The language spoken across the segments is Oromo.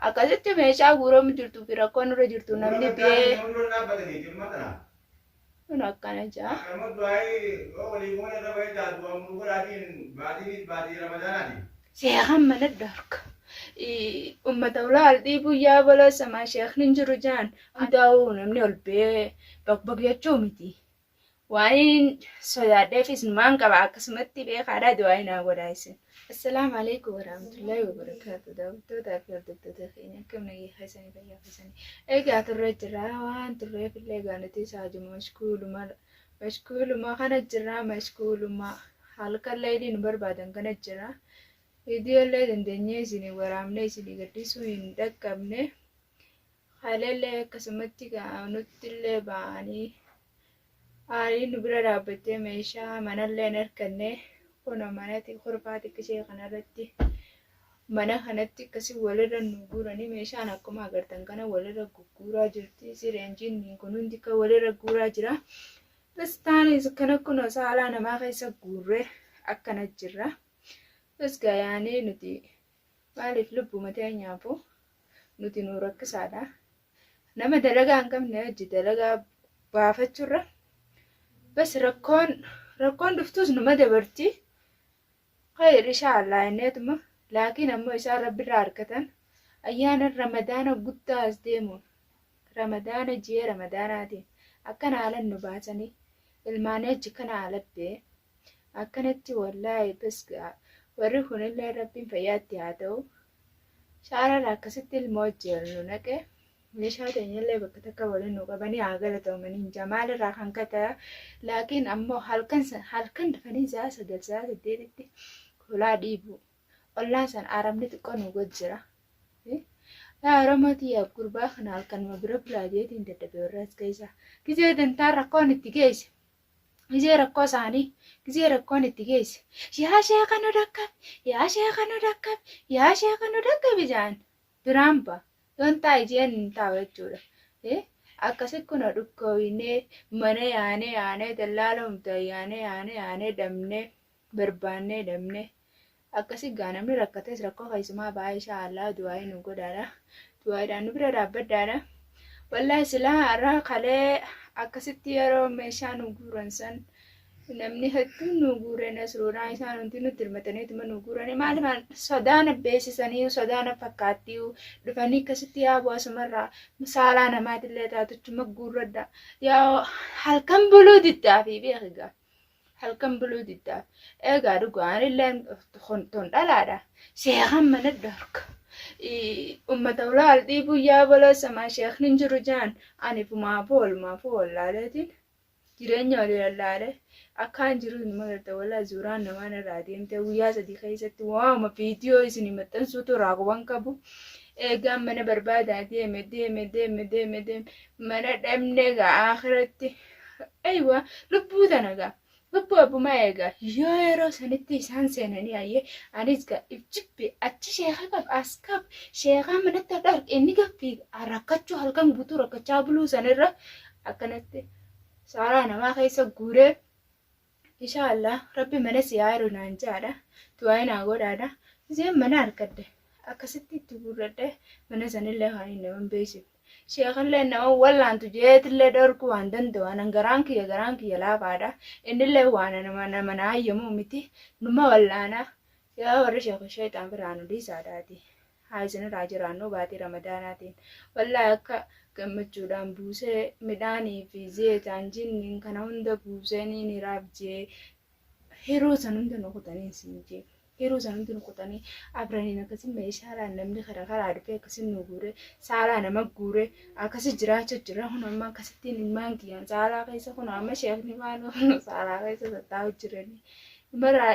Akkasitti meeshaa guuramu jirtuu fi rakkoo nurra jirtu namni biyee. Kun akkana jaa. Sheekan mana dhorka. Ummata ulaa al dhiibuu yaa balaa samaa sheekni hin jiru jaan hundaa'uu namni ol bee bakbak jechuu miti. Waaniin sodaadheef isinumaan qaba akkasumatti beekaadha du'aayi naa godhaa isin. Assalaamu alaikum warahmatullahi wabarakatuh daawwattootaa fi hordoftoota keenya akkam nagaa keessanii fayyaa keessanii egaa turre jirra waan turreef illee egaa nuti saajuma mashkuuluma mashkuuluma kana jirra mashkuuluma halkan leelii nu barbaadan kana jirra viidiyoo illee dandeenyee isinii waraabnee isinii gadhiisuu hin dhaqqabne Haaleellee akkasumatti gaa nuttillee ba'anii aariin nu bira dhaabbattee meeshaa manallee hin harkanne kuno manati kurfaa xiqqishee kanarratti mana kanatti akkasii walirra nu guuranii meeshaan akkuma agartan kana walirra gugguuraa jirti sireen jinniin kun hundi kan walirra guuraa jira. Pistaanis kana kuno saalaa namaa keessa guurree akkana jirra. Bas gayaanii nuti Maaliif lubbu mataa nyaabu nuti nu rakkisaadha. Nama dalagaa hin qabne hojii dalagaa baafachurra bas rakkoon rakkoon dhuftuus numa dabarti. Khayr inshaallah inneetuma laakiin ammoo isaan rabbirraa argatan ayyaana ramadaana guddaa as deemuun ramadaana ji'a ramadaanaatiin akkana haalan nu baasanii ilmaanii achi kana haalat bee akkanatti wallaahi bas ga'a warri kunillee rabbiin fayyaatti haa ta'u shaarara akkasitti ilma wajjin nu naqe meeshaa teenyallee bakka takka waliin nu qabanii haa galatoomaniin jamaal irraa kan kata laakiin ammoo halkan halkan dafanii sa'a sagal sa'a saddeetitti hulaa dhiibu ollaan san arabni xiqqoo nu gojjira. Yaa Oromoo tiyyaaf gurbaa kana halkanuma bira bulaa jeetiin dadhabe warra as keessa. Gizee dantaa rakkoon itti geesse. Gizee rakkoo isaanii, gizee rakkoon itti geesse, yaa sheeka nu dhaqqabi, yaa sheeka nu dhaqqabi, yaa sheeka nu dhaqqabi ja'an. Biraan ba'a. Yoon taa'i jeen hin taa'u jechuudha. Akkasi kunoo dhukkoowinee, mana yaanee yaanee, dallaalumta yaanee yaanee yaanee dhabnee. barbaannee dhabne akkasi gaa namni rakkates rakkoo keessumaa ba'aa ishaa allaa du'aa'ii nu godhaadha du'aa'iidhaan nu bira dhaabbadhaadha wallaahi silaa har'a kalee akkasitti yeroo meeshaa nu guuran san namni hedduun nu guuree nasruudhaan isaan hundi nutti hirmataniituma nu guuranii maaliif sodaana beeksisanii sodaana fakkaattii dhufanii akkasitti yaa bu'asumarraa saalaa namaatillee taatuchuma guurradha yaa halkan buluu diddaa fi beekigaa. halkan buluu diddaa egaa dhugaa anilleen ton dhalaadha sheekan mana dhorka ummata ulaal dhiibuu yaa baloo samaa sheekni hin jiru jaan ani fumaa foolmaa foolaaleetiin jireenya olii lallaalee akkaan jiru hin magarta walaa zuuraan namaan irraa deemtee guyyaa sadii keessatti waama viidiyoo isin maxxansuutu irraa quban qabu eegaan mana barbaadaa deeme deeme deeme deeme deeme mana dhabne ga'a akhiratti Aywa lubbuu tana gaa lubbuu abbumaa eegaa yoo yeroo sanitti isaan seenanii ayyee anis gaa if jibbe achi sheeka qab as qab sheekaa manatti adda arge inni gabbi rakkachuu halkan guutuu rakkachaa buluu sanirra akkanatti saaraa namaa keessa guuree Ishaa Allah rabbi mana si haa hiru naan jaadha du'aayi naa godhaadha gizeen mana arkadhe akkasitti itti guurradhe mana sanillee kan hin naman beeksifne sheekallee nama wallaantu jeetillee dhorku waan danda'u anan garaan kiyya garaan kiyya laafaadha innillee waan nama nama naa hayyamuu miti numa wallaana yaa warri sheeku sheexaan biraa nu dhiisaadhaati. haa isinirraa jiraannu baatii ramadaanaatiin wallahi akka gammachuudhaan buusee midhaanii fi zeetaan jinniin kana hunda buusee niin hiraaf jee hiruu san hunda nu kutanii siin jee hiruu san hunda nu kutanii abraniin akkasii meeshaalaan namni kara karaa dhufee akkasii nu guure saalaa nama guure akkasii jiraachuu jira kun amma akkasittiin ilmaan kiyyaan saalaa keessa kun amma sheekni waan saalaa keessa tattaa'u jiranii maraa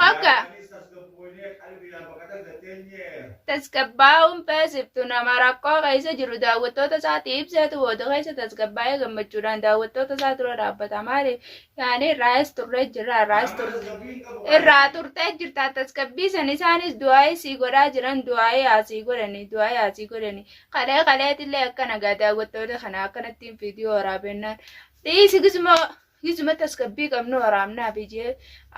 Hogga tasgabbaa'uun feesiftu nama rakkoo keessa jiru daawwattoota isaatti ibseetu booda keessa tasgabbaa'ee gammachuudhaan daawwattoota isaa dura dhaabbata. Maaliif? Yaani irraayis turree jirra irraayis turte. Irraa turtee jirta tasgabbii san isaanis du'aa'ii sii godhaa jiran du'aa'ii haa sii godhani du'aa'ii haa sii godhani. Kalee kaleetillee akkana gaa daawwattoota kana akkanattiin viidiyoo waraabennaan dhiisi gizmoo. Hizma tasgabbii qabnu waraabnaaf jee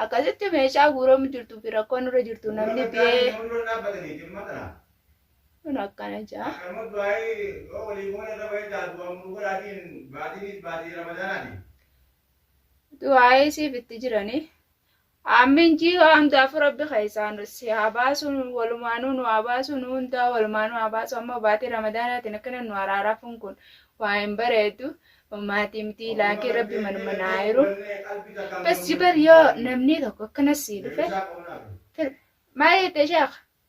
akkasitti meeshaa guuramu jirtuu fi rakkoo nurra jirtu namni bee. Kun akkana jaa. Du'aayii siif itti jiranii. Aammiin jiihaa hundaafuu rabbi keessaa nu si haa baasu nu walumaanuu nu haa baasu nu hundaa walumaanuu haa baasu ammoo baatii ramadaanaatiin akkana nu araarafuun kun waa hin bareedu maatii mitii laakii rabbi manuma naa hiru bas jibar yoo namnii tokko akkana sii dhufe fir maa jette sheekh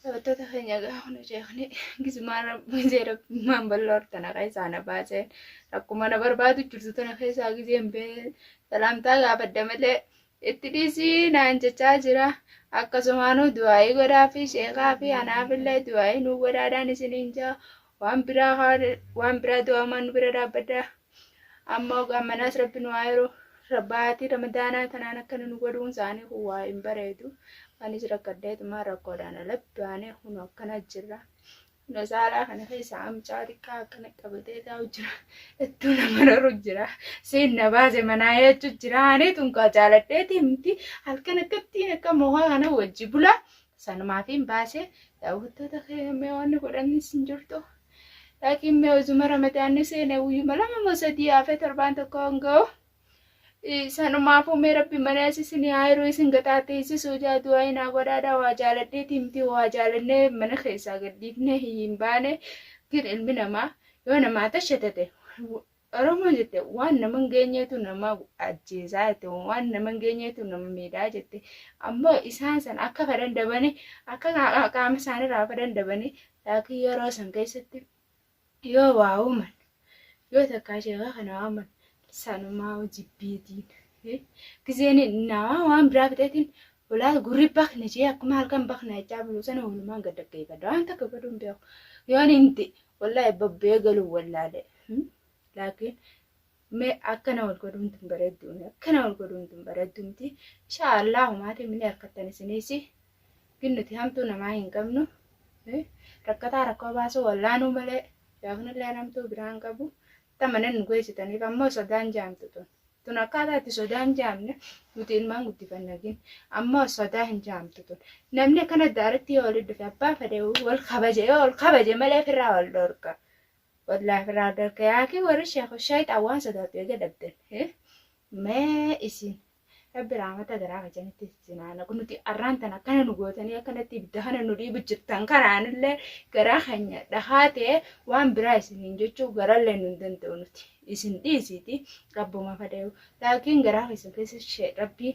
Taphattoota keenya egaa kun sheekni gizmaan rabbi jee rabbimaan bal'oo tana keessaa na baasee rakkuma na barbaadu jirtu tana keessaa gizeen bee salaamtaa gaafadha malee itti dhiisii naan jechaa jira. Akkasumaanuu du'aayii godhaa fi sheekaa fi anaafillee du'aayii nuu godhaadhaan isiniin jaa waan biraa waan biraa du'aamaan nu bira dhaabbadhaa. amma ogaan manaas rabbi nu haa yeroo baatii ramadaanaa kanaan akkana nu godhuun isaanii kun waa hin bareedu anis rakkadheetumaa rakkoodhaan alatti baanee kun akkana jirra na saalaa kana keessaa amcaa xiqqaa akkana qabatee taa'u jira ittuu na mararu jira siin na baase manaa jechu jira ani tunkaa jaaladheeti miti halkan akkattiin akka mohaa kana wajji bulaa Sanumaafiin baase daawwattoota kee mee wanni godhannis hin jirtu. Laakiin mee uzuma ramadaanni seene guyyuma lama moo sadii hafe torbaan tokko hanga'u. Sanumaafuu mee rabbi mana isin haa hiruu isin gaxaateessisuu jaa du'aa hin haa godhaadha waa jaaladhee tiimtii waa jaalannee mana keessaa gadhiifnee hin baane. Gin ilmi namaa yoo namaa tashatate Oromoo jette waan nama hin geenyeetu nama ajjeesaa jette waan nama hin geenyeetu nama miidhaa jette ammoo isaan san akka fedhan dabanii akka qaa- qaama isaaniirraa fedhan dabanii laakiin yeroo san keessatti yoo waa uuman yoo takkaa sheekaa kana waaman sanumaa jibbiitiin gizeen namaa waan biraa fixeetiin ulaa gurri bakna jee akkuma halkan bakna jechaa bulu sana walumaan gad dhaggeeffadha waan takka godhuun beeku yoon inti Wallaahi babbee galuun wallaalee. Laakiin mee akkana wal godhuun tun bareedduu miti. Akkana wal godhuun tun bareedduu miti. Inshaa Allah humaatiin minni harkattan isiniisi. Gin nuti hamtuu namaa hin qabnu. Rakkataa rakkoo baasuu wallaanuu malee yaafnillee namtuu biraan qabu. Akka manan nu geessitaniif ammoo sodaan jaamtu tun. Tun akkaataa itti sodaa hin jaamne nuti ilmaan guddifanna gin. Ammoo sodaa hin jaamtu tun. Namni akkana daaratti yoo walitti dhufe abbaa fedhe wal kabaje yoo wal kabaje malee firraa wal dhorka. Wallaahi firraa wal dhorka yaakii warri sheekhu shayxaan waan sodaatu eega dhabdan. Mee isin rabbi raamata garaa kajanitti isin haa naqu nuti arraan tan akkana nu gootanii akkanatti ibidda kana nu dhiibu jirtan kanaanillee garaa keenya dhahaa ta'e waan biraa isiniin jechuu garallee nu hin danda'u nuti isin dhiisiiti rabbuma fadayuu laakiin garaa keessan keessa shee rabbii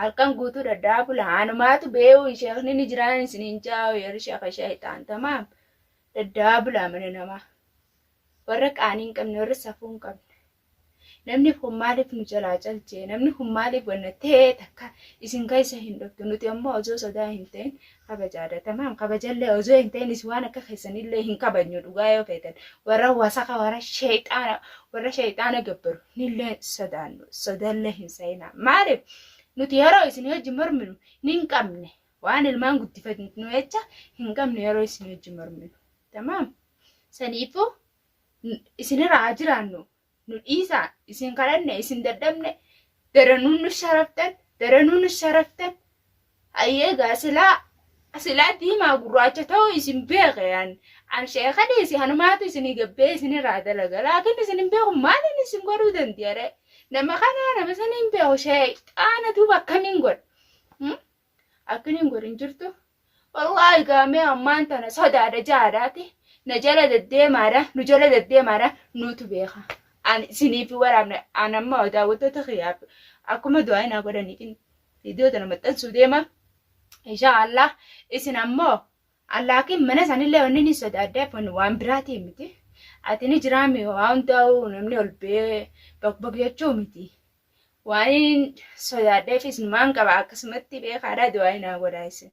halkan guutuu dhadhaa bula anumaatu beewu sheekni ni jiraan isiniin jaa'u yerri sheeka shayxaan tamaam dhadhaa bula mana namaa warra qaanii hin qabne warra safuu hin qabne namni kun maaliif nu jalaa calchee namni kun maaliif wanna ta'ee takka isin keessa hin dhuftu nuti ammoo osoo sodaa hin ta'in kabajaadha tamaam kabajallee osoo hin ta'in iswaan akka keessanillee hin kabajnu dhugaa yoo feetan warra wasaka warra sheexaana warra sheexaana gabbaru nillee sodaannu sodallee hin sayina maaliif nuti yeroo isin hojii morminu nin qabne waan ilmaan guddifatnu jecha hin qabne yeroo isin hojii morminu tamaam saniifuu isinirraa haa jiraannu nu dhiisaa isin kadhanne isin dadhabne daranuu nu sharaftan daranuu nu sharaftan hayyee gaa silaa silaa diimaa gurraacha ta'uu isin beeke an an sheeka dhiisi hanumaatu isinii gabbee isinirraa dalaga laakiin isin hin beeku maaliin isin godhuu dandiyare nama kanaa nama sanii hin beeku sheexaana duuba akkamiin godha Akkin hin godhin jirtu. Wallaahi gaamee ammaan tana sodaadha jaadaati. Na jala deddeemaadha, nu jala deddeemaadha, nuutu beeka. Ani isiniif waraabne, an amma daawwattoota kiyyaaf akkuma du'aa naa godhaniitiin viidiyoo tana maxxansuu deema. Inshaa Allah isin ammoo allaakiin mana sanillee wanni ni sodaaddeef wanni waan biraatii miti. Ati ni jiraami waa hundaa'u namni ol bee baqbaq jechuu miti. Waaniin sodaadheefis numaan qaba akkasumatti beekaadha du'aayi naa godhaa isin.